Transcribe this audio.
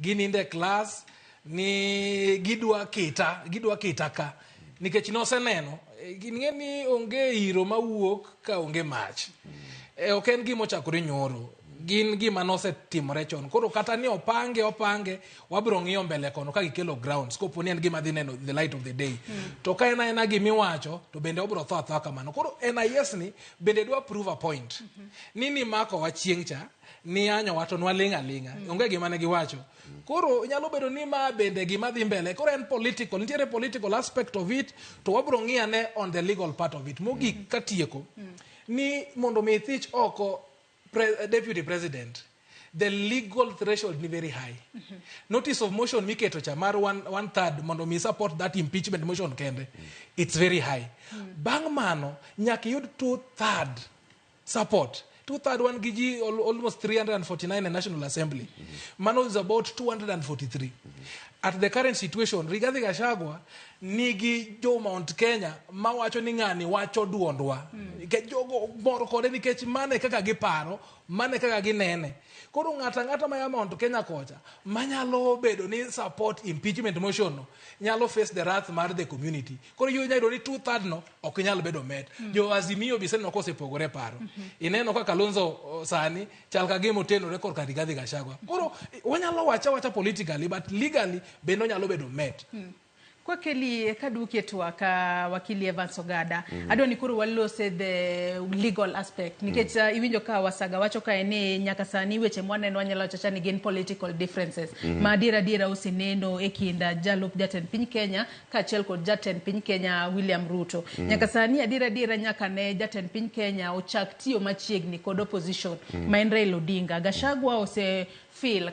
ginindo e klas ni gidwa kita gidwa kita ka nikech noseneno eh, ing'e ni onge iro mawuok ka onge mach Eh, ok en gima ochakore nyoro gin gima nosetimore chon koro kata ni opange opange wabiro ng'iyo mbele kono ka gikelo grounds kopo ni en gima dhi neno the light of the day to ka en aena gima iwacho to bende obiro tho athoa kamano koro NIS ni bende dwa prove a point ni nimako wa chieng' cha niyanyowa to nwaling' aling'a mm. onge gima ne giwacho mm. koro nyalo bedo ni ma bende gima dhi mbele koro en political nitiere political aspect of it to wabro ng'iyane on the legal part of it mogik mm. katieko mm. ni mondo mi thich oko pre, deputy president the legal threshold ni very high mm -hmm. notice of motion miketo cha mar one, one third mondo mi support that impeachment motion kende mm. it's very high mm. bang' mano nyaka iyud two third support two third wan gi ji al- almost 349 e national assembly mano is about 243 at the current situation rigathi gashagwa nigi jo mount kenya mawacho ni ng'ani wacho duondwa Nikech jogo mor kode nikech mane kaka giparo mane kaka ginene koro ng'ata ng'ata maya mount kenya kocha manyalo bedo ni support impeachment motion no nyalo face the wrath mar the community koro inyalo yudo ni two third no ok nyal bedo med mm. jo azimio bi seneno kosepogore paro mm -hmm. ineno kaka Kalonzo sani chal ka gimo tenore kor ka Rigathi Gachagua mm. koro wanyalo wacha wacha politically but legally bende onyalo bedo med mm. kwa keli eh, kaduki etu waka wakili Evans Ogada mm -hmm. adwa ni koro walose the legal aspect nikech mm -hmm. iwinjo ka wasaga wacho ka ni nyaka sani weche mwaneno wanyalo chacha ni gin political differences mm -hmm. ma adiera adiera usineno e kinda jalup jatend piny Kenya kaachiel kod jatend piny Kenya William Ruto. Mm. Nyaka sani adiera adiera nyaka ne jatend piny Kenya ochak tiyo machiegni kod opposition mm. ma en Raila Odinga. Gachagua ose feel